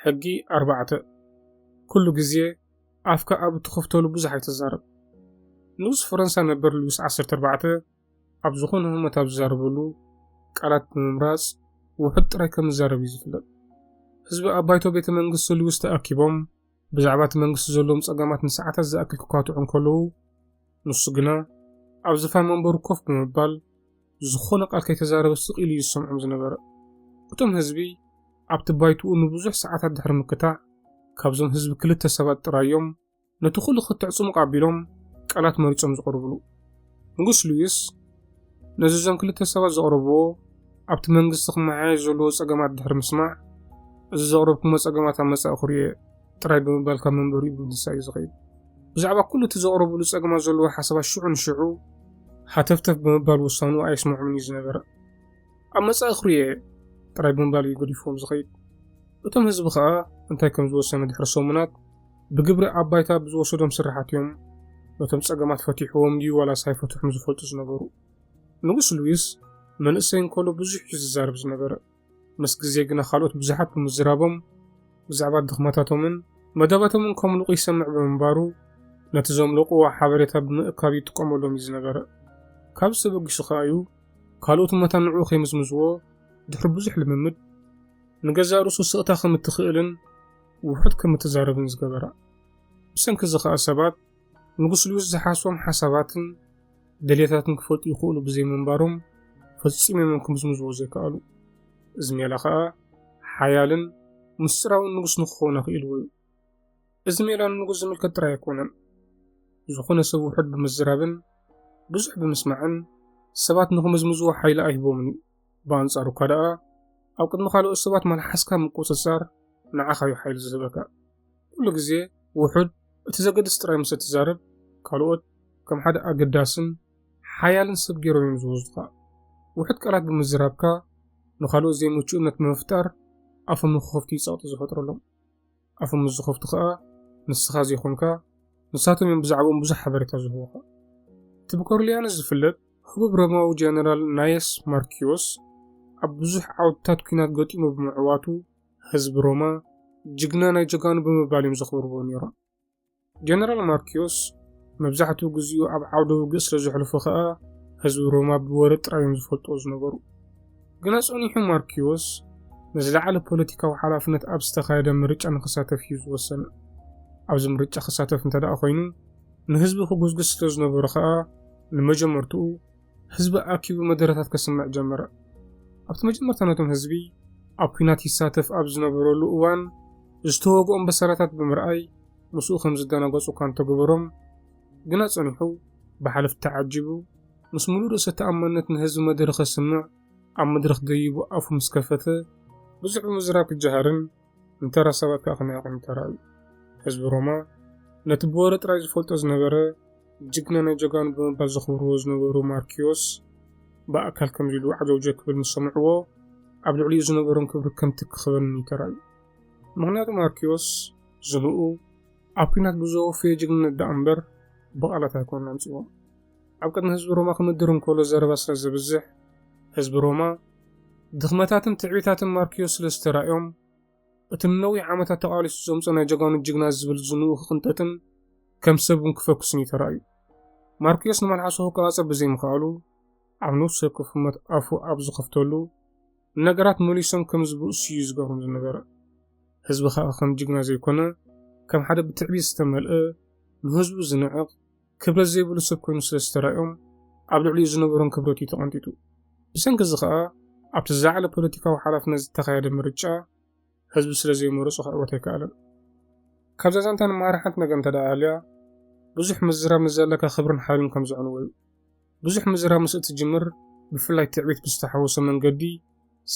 ሕጊ ኣርባዕተ፣ ኩሉ ግዜ ኣፍካ ኣብ እትኸፍተሉ ብዙሕ ኣይትዛረብ። ንጉስ ፈረንሳ ነበር ሉዊስ ዓሰርተ ኣርባዕተ ኣብ ዝኾነ ህሞት ኣብ ዝዛረበሉ ቃላት ብምምራጽ ውሑድ ጥራይ ከም ዝዛረብ እዩ ዝፍለጥ። ህዝቢ ኣብ ባይቶ ቤተ መንግስቲ ሉዊስ ተኣኪቦም ብዛዕባ እቲ መንግስቲ ዘለዎም ጸገማት ንሰዓታት ዝኣክል ክኳትዑ እንከለዉ፣ ንሱ ግና ኣብ ዝፋን መንበሩ ኮፍ ብምባል ዝኾነ ቃል ከይተዛረበ ስቕ ኢሉ እዩ ዝሰምዖም ዝነበረ። እቶም ህዝቢ ኣብቲ ባይትኡ ንብዙሕ ሰዓታት ድሕሪ ምክታዕ፣ ካብዞም ህዝቢ ክልተ ሰባት ጥራይ እዮም ነቲ ኹሉ ክትዕ ጽሙቕ ኣቢሎም ቃላት መሪጾም ዝቕርብሉ። ንጉስ ሉዊስ ነዚ እዞም ክልተ ሰባት ዘቕረብዎ ኣብቲ መንግስቲ ክመሓየሽ ዘለዎ ጸገማት ድሕሪ ምስማዕ፣ እዚ ዘቕረብኩሞ ጸገማት ኣብ መጻኢ ክሪኦ እየ። ጥራይ ብምባል ካብ መንበሪኡ ብምትንሳእ እዩ ዝኸይድ። ብዛዕባ ኩሉ እቲ ዘቕረቡሉ ጸገማት ዘለዎ ሓሳባት ሽዑ ንሽዑ ሃተፍተፍ ብምባል ውሳንኡ ኣየስምዖምን እዩ ዝነበረ። ኣብ መጻኢ ክርእዮ እየ ጥራይ ብምባል እዩ ገዲፍዎም ዝኸይድ። እቶም ህዝቢ ከኣ እንታይ ከም ዝወሰነ ድሕሪ ሰሙናት ብግብሪ ኣብ ባይታ ብዝወሰዶም ስርሓት እዮም ነቶም ጸገማት ፈቲሕዎም ድዩ ዋላስ ኣይፈትሑም ዝፈልጡ ዝነበሩ። ንጉስ ሉዊስ መንእሰይ እንከሎ ብዙሕ እዩ ዝዛረብ ዝነበረ። ምስ ግዜ ግና ካልኦት ብዙሓት ብምዝራቦም ብዛዕባ ድኽመታቶምን መደባቶምን ከምልቑ ይሰምዕ ብምንባሩ ነቲ ዘምለቑዎ ሓበሬታ ብምእካብ ይጥቀመሎም እዩ ዝነበረ። ካብዚ ተበጊሱ ከኣ እዩ ካልኦት መታን ንዕኡ ከይምዝምዝዎ ድሕሪ ብዙሕ ልምምድ ንገዛእ ርእሱ ስቕታ ከም እትኽእልን ውሑድ ከም እትዛረብን ዝገበራ። ብሰንኪ እዚ ከኣ ሰባት ንጉስ ልዩስ ዝሓስቦም ሓሳባትን ደልየታትን ክፈልጡ ይኽእሉ ብዘይምንባሮም ፈጺም እዮም ክምዝምዝዎ ዘይከኣሉ። እዚ ሜላ ከኣ ሓያልን ምስጢራውን ንጉስ ንክኸውን ኣኽኢልዎ እዩ። እዚ ሜላ ንንጉስ ዝምልከት ጥራይ ኣይኮነን። ዝኾነ ሰብ ውሑድ ብምዝራብን ብዙሕ ብምስማዕን ሰባት ንክምዝምዝዎ ሓይሊ ኣይህቦምን እዩ። ብኣንጻሩ እኳ ደኣ ኣብ ቅድሚ ካልኦት ሰባት መልሓስካ ምቁጽጻር ንዓኻ እዩ ሓይሊ ዝህበካ። ኩሉ ግዜ ውሑድ እቲ ዘገድስ ጥራይ ምስ እትዛረብ ካልኦት ከም ሓደ ኣገዳስን ሓያልን ሰብ ገይሮም እዮም ዝወስዱኻ። ውሑድ ቃላት ብምዝራብካ ንኻልኦት ዘይምቹእነት ብምፍጣር ኣፎም ንክኸፍቱ እዩ ጸቕጢ ዝፈጥረሎም። ኣፎም ምስ ዝኸፍቱ ከኣ ንስኻ ዘይኮንካ ንሳቶም እዮም ብዛዕባኦም ብዙሕ ሓበሬታ ዝህቡኻ። እቲ ብኮርሊያነስ ዝፍለጥ ህቡብ ሮማዊ ጀነራል ናየስ ማርኪዮስ ኣብ ብዙሕ ዓውድታት ኲናት ገጢሙ ብምዕዋቱ ህዝቢ ሮማ ጅግና ናይ ጀጋኑ ብምባል እዮም ዘኽብርዎ ነይሮም። ጀነራል ማርክዮስ መብዛሕትኡ ግዜኡ ኣብ ዓውደ ውግእ ስለ ዘሕልፎ ኸኣ ህዝቢ ሮማ ብወረ ጥራይ እዮም ዝፈልጥዎ ዝነበሩ። ግና ጸኒሑ ማርክዮስ ንዝለዓለ ፖለቲካዊ ሓላፍነት ኣብ ዝተኻየደ ምርጫ ንኽሳተፍ እዩ ዝወሰነ። ኣብዚ ምርጫ ክሳተፍ እንተደኣ ኾይኑ ንህዝቢ ክጉስጉስ ስለ ዝነበሮ ኸኣ ንመጀመርትኡ ህዝቢ ኣኪቡ መደረታት ከስምዕ ጀመረ። ኣብቲ መጀመርታ ነቶም ህዝቢ ኣብ ኩናት ይሳተፍ ኣብ ዝነበረሉ እዋን ዝተወግኦም በሰላታት ብምርኣይ ምስኡ ከም ዝደናገጹ እኳ እንተገበሮም ግና ጸኒሑ ብሓለፍቲ ተዓጂቡ ምስ ምሉእ ርእሰ ተኣማንነት ንህዝቢ መደረ ከስምዕ ኣብ መድረኽ ደይቡ ኣፉ ምስ ከፈተ ብዙሕ ብምዝራብ ክጀሃርን እንተ ረሰበካ ከመይ ቁም ተራእዩ። ህዝቢ ሮማ ነቲ ብወረ ጥራይ ዝፈልጦ ዝነበረ ጅግና ናይ ጀጋኑ ብምባል ዘኽብርዎ ዝነበሩ ማርክዮስ ብኣካል ከምዚ ኢሉ ዓጀውጀ ክብል ምስ ሰምዕዎ ኣብ ልዕሊኡ ዝነበሮም ክብሪ ከምቲ ክኽበን እዩ ተራእዩ። ምኽንያቱ ማርክዮስ ዝንኡ ኣብ ኲናት ብዘወፈዮ ጅግንነት ደኣ እምበር ብቓላት ኣይኮነን ኣምጺዎም። ኣብ ቅድሚ ህዝቢ ሮማ ክምድር እንከሎ ዘረባ ስለ ዘብዝሕ ህዝቢ ሮማ ድኽመታትን ትዕቢታትን ማርክዮ ስለ ዝተራእዮም፣ እቲ ንነዊሕ ዓመታት ተቓሊሱ ዘምጾ ናይ ጀጋኑ ጅግና ዝብል ዝንኡ ክቕንጠጥን ከም ሰብ እውን ክፈኩስን እዩ ተራእዩ። ማርክዮስ ንመልሓሱ ክቆጻጸር ብዘይምኽኣሉ፣ ኣብ ነፍሲ ወከፍ ህሞት ኣፉ ኣብ ዝኸፍተሉ፣ ንነገራት መሊሶም ከም ዝብእሱ እዩ ዝገብሮም ዝነበረ። ህዝቢ ከኣ ከም ጅግና ዘይኮነ፣ ከም ሓደ ብትዕቢት ዝተመልአ፣ ንህዝቡ ዝንዕቕ፣ ክብረት ዘይብሉ ሰብ ኮይኑ ስለ ዝተራእዮም ኣብ ልዕሊኡ ዝነበሮም ክብረት እዩ ተቐንጢጡ። ብሰንኪ እዚ ከኣ ኣብቲ ዝለዓለ ፖለቲካዊ ሓላፍነት ዝተኻየደ ምርጫ ህዝቢ ስለ ዘይመረጾ ክዕወት ኣይከኣለን። ካብዛ ዛንታ ንመሃር ሓንቲ ነገር እንተ ደኣ ሃልያ፣ ብዙሕ ምዝራብ ምስ ዘለካ ክብርን ሓይልን ከም ዘዕንዎ እዩ። ብዙሕ ምዝራብ ምስ እትጅምር፣ ብፍላይ ትዕቢት ብዝተሓወሶ መንገዲ፣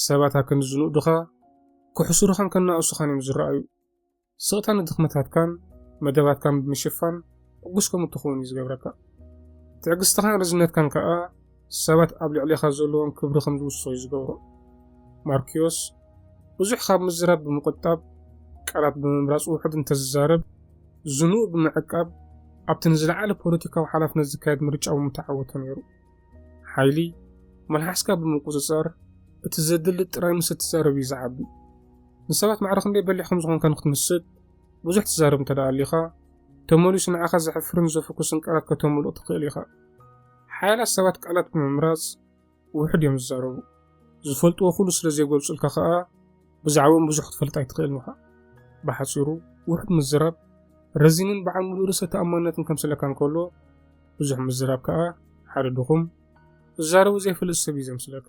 ሰባት ኣክንዲ ዝንእዱኻ፣ ክሕሱሩኻን ከናእሱኻን እዮም ዝረኣዩ። ስቕታ ንድኽመታትካን መደባትካን ብምሽፋን ዕጉስ ከም እትኸውን እዩ ዝገብረካ። ትዕግስትኻን ርዝነትካን ከኣ ሰባት ኣብ ልዕሌኻ ዘለዎም ክብሪ ከም ዝውስኽ እዩ ዝገብሮ። ማርክዮስ፣ ብዙሕ ካብ ምዝራብ ብምቑጣብ፣ ቃላት ብምምራጽ ውሑድ እንተ ዝዛረብ፣ ዝንኡ ብምዕቃብ፣ ኣብቲ ንዝለዓለ ፖለቲካዊ ሓላፍነት ዝካየድ ምርጫ ብምተዓወተ ነይሩ። ሓይሊ መልሓስካ ብምቁጽጻር እቲ ዘድሊ ጥራይ ምስ እትዛረብ እዩ ዝዓቢ። ንሰባት ማዕረ ክንደይ በሊሕ ከም ዝኾንካ ንክትምስጥ ብዙሕ ትዛረብ እንተ ኣሊኻ፣ ተመሊሱ ንዓኻ ዘሕፍርን ዘፍኩስን ቃላት ከተምልቕ ትኽእል ኢኻ። ሓያላት ሰባት ቃላት ብምምራጽ ውሑድ እዮም ዝዛረቡ። ዝፈልጥዎ ኩሉ ስለ ዘይገልጹልካ ከኣ፣ ብዛዕብኦም ብዙሕ ክትፈልጥ ኣይትኽእልን ኢኻ። ብሓጺሩ ውሑድ ምዝራብ ረዚንን በዓል ምሉእ ርእሰ ተኣማንነትን ከምስለካ እንከሎ፣ ብዙሕ ምዝራብ ከኣ ሓደ ድኹም፣ ዝዛረቡ ዘይፈልጥ ሰብ እዩ ዘምስለካ።